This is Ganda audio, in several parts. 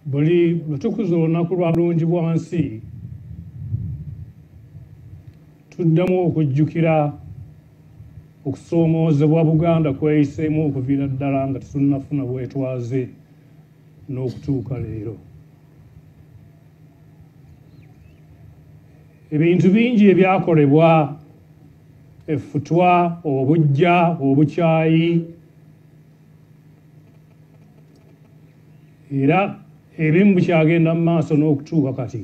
buli lutukuza olunaku lwa bulungi bwa nsi tuddamu okujjukira okusoomoozebwa buganda kweyiseemu okuviira ddala nga tetunnafuna bwetwaze n'okutuuka leero ebintu bingi ebyakolebwa effutwa obujja obukyayi era ebimu bukyagenda mu maaso n'okutuuka kati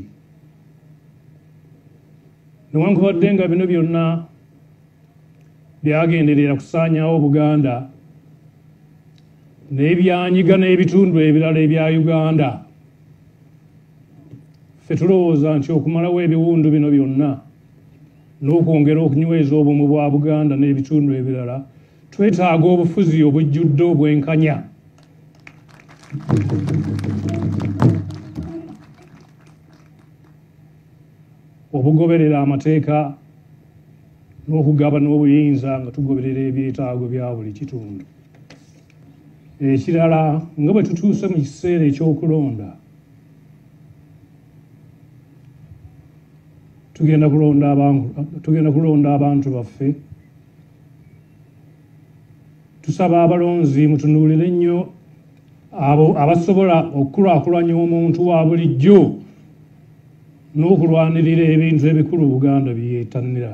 newankubadde nga bino byonna byagenderera kusaanyawo buganda naye byanyiga n'ebitundu ebirala ebya uganda fe tulowooza nti okumalawo ebiwundu bino byonna n'okwongera okunyweza obumu bwa buganda n'ebitundu ebirala twetaaga obufuzi obujjudde obwenkanya obugoberera amateeka n'okugabana obuyinza nga tugoberera ebyetaago bya buli kitundu ekirala nga bwe tutuuse mu kiseera ekyokulonda tugenda kulonda abantu baffe tusaba abalonzi mutunuulire nnyo abo abasobola okukulaakulanya omuntu wa bulijjo n'okulwanirira ebintu ebikulu buganda byetannira